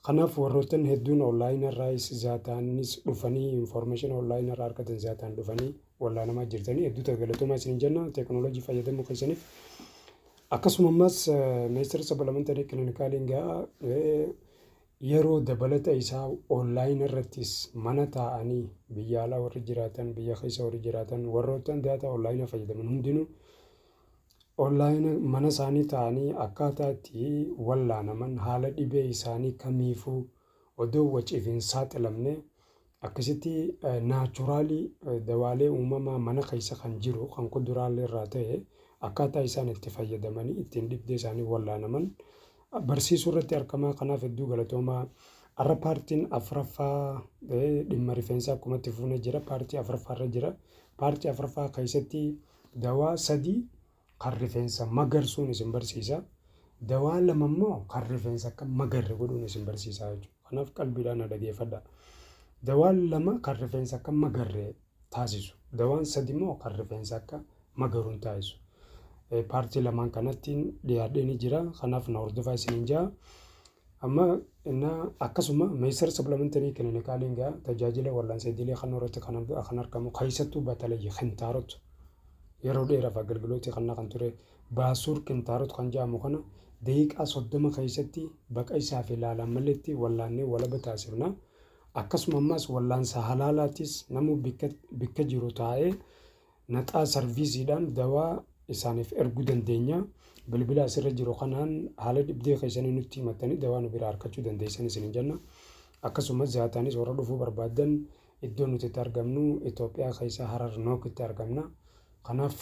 Kanaaf warroottan hedduun online irraayis zaataanis dhufanii information online irraa argatan zaataan dhufanii wallaanamaa jirtanii hedduu ta'e galatoomaa isinin jenna teknolojii fayyadamuu keessaniif akkasuma ammas meestar sabalamantanii kilinikaalin ga'a yeroo dabalata isaa online irrattis mana taa'anii biyya alaa warri jiraatan biyya keessa warri jiraatan warroottan daataa online fayyadaman hundinuu Online mana isaanii taa'anii akkaataa itti wallaanaman haala dhibee isaanii kamiifuu odoo waciif hin saaxilamne akkasitti naachuraalii dawaalee uumamaa mana keessa kan jiru kan kuduraalee irraa ta'e akkaataa isaan itti fayyadamanii ittiin dhibdee isaanii wallaanaman barsiisuu irratti argamaa kanaaf hedduu galatoomaa. Har'a paartiin afraffaa dhimma rifeensaa akkumatti fuunee jira paartii afraffaa irra jira paartii afraffaa keessatti Dawaa sadii kan rifeensa magarsuun isin barsiisa. Dawaa lama immoo kan rifeensa akka magarre godhuun isin barsiisa jechuudha. Kanaaf qalbiidhaan na dhageeffadha. Dawaan lama kan rifeensa akka magarre taasisu. Dawaan sadi immoo kan rifeensa akka magaruun taasisu. Paartii lamaan kanattiin dhiyaadhee ni jira. Kanaaf na hordofaa isiniin jaa. Amma innaa akkasuma meesar supplementary clinicaliin gaa tajaajila wal'aansa idilee kan irratti kan arg- kan argamu keessattuu batalayyi kintaarot yeroo dheeraaf agalgilootii kan kan ture baasuur kintaarot kan jedhamu kana daqiiqaa soddoma keessatti baqa isaa fi ilaalaan maletti wallaannee walaba taasifna. Akkasuma ammas wallaansa halaalaatis namuu bikka, bikka jiru taa'ee Naxaa sarviisiidhaan dawaa isaaniif erguu dandeenya. Bilbila asirra jiru kanaan haala dhibdee keessanii nutti himattanii dawaa nu biraa argachuu dandeessan isiniin jenna. Akkasumas zaataanis warra dhufuu barbaaddan iddoo nuti itti argamnu Itoophiyaa keessa Harar Nook itti argamna. Kanaaf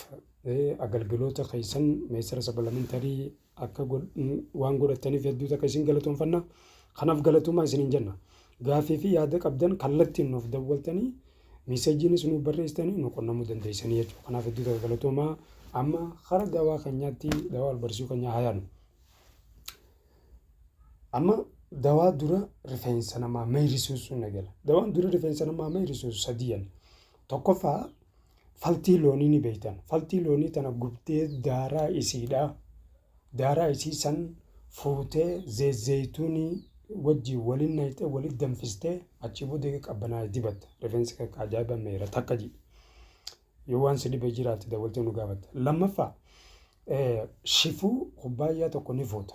agalgiloota keessan meesara sabalamenterii akka waan godhattaniif hedduu takka isin galatoonfanna. Kanaaf galatoomaa isiniin jenna. Gaaffii fi yaada qabdan kallattiin nuuf dawwaltanii miiseejiinis nuuf barreessitanii nu qunnamuu dandeessanii jechuudha. Kanaaf hedduu takka galatoomaa amma hara dawaa keenyaatti dawaa albarsuu keenyaa haa yaadnu. Amma dawaa dura rifeensa namaa meeyrisuusuun eegala. Dawaan dura rifeensa namaa meeyrisuusu sadii jenna. Tokkoffaa Faltii loonii ni beeytan. Faltii loonii tana gubdee daaraa isiidha. Daaraa isii san fuutee zeezzeeytuunii wajjii waliin nayxee waliin danfistee achii booda eega qabbanaa'e dibatta. Rifeensi kee akka ajaa'iba meera takka ji. Yoo waan si dhibe jiraate dawwaltee nu gaafatta. Lammaffaa shifuu kubbaayyaa tokko ni fuuta.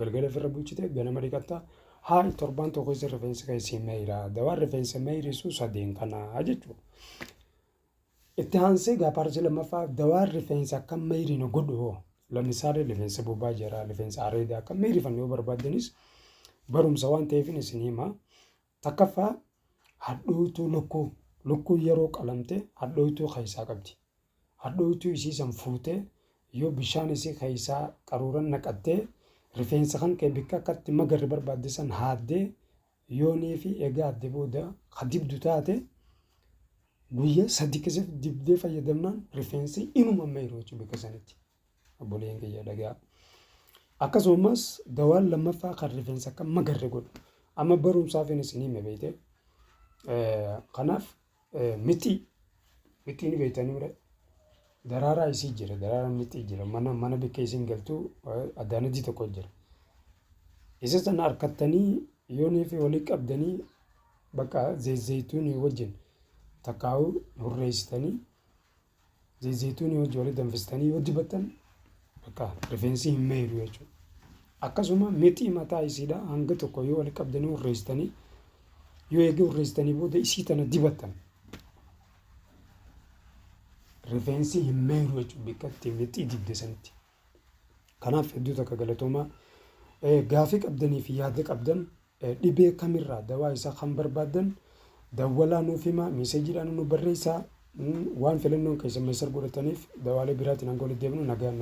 Galgala ofirra bulchite ganama dhiqatta. Haal torbaan tokko keessa rifeensi kee si meeyra. Dawaan rifeensa meeyrisu sadeen kana jechuudha. Itti aansee gaa paartii lammaffaa dawaan rifeensa akka meeyrine godhu hoo lammisaalee rifeensa bobaa jira rifeensa areedaa akka meeyrifanne yoo barbaaddanis barumsa waan ta'eefin isin hima. Takkaffaa, hadhooytuu lukkuu. Lukkuun yeroo qalamte hadhooytuu keessaa qabdi. Hadhooytuu isii san fuutee yoo bishaan isii keessaa qaruuran naqattee rifeensa kan kee bikka akka itti magarre barbaadde san haaddee yoonii fi egaa adde booda ka dibdu taate guyyaa sadi keessatti dibdee fayyadamnaan rifeensi inuma meeru jechuudha bikka sanitti. Obboleen kiyya dhagaa. Akkasumas dawaan lammaffaa kan rifeensa akka magarre godhu. Amma barumsaafin isin hime beekte. Kanaaf mixii mixii ni beektaniire. Daraaraa isii jira daraaraa mixii jira mana mana bikkee isin galtuu addaanajii tokko jira. Isa sana harkattanii yoonii fi walii qabdanii bakka zeezzeetuun wajjin takkaa'uu hurreessitanii Zayzayituunii wajji walitti danfistanii yoo dibattan bakka rifeensi hin meeydu jechuudha. Akkasuma mitii mataa isiidha hanga tokko yoo walitti qabdanii urreessitanii yoo eegee urreessitanii booda isii tana dibattan rifeensi hin meeydu jechuudha bakka itti mitii dibde sanitti. Kanaaf hedduu takka galatoomaa. Gaafii qabdanii fi yaada qabdan dhibee kamirraa dawaa isaa kan barbaaddan dawwalaa nuuf himaa meeseejiidhaan nu barreessaa waan filannoon keessan meesar godhataniif dawaalee biraatiin hanga walitti deebinu nagaan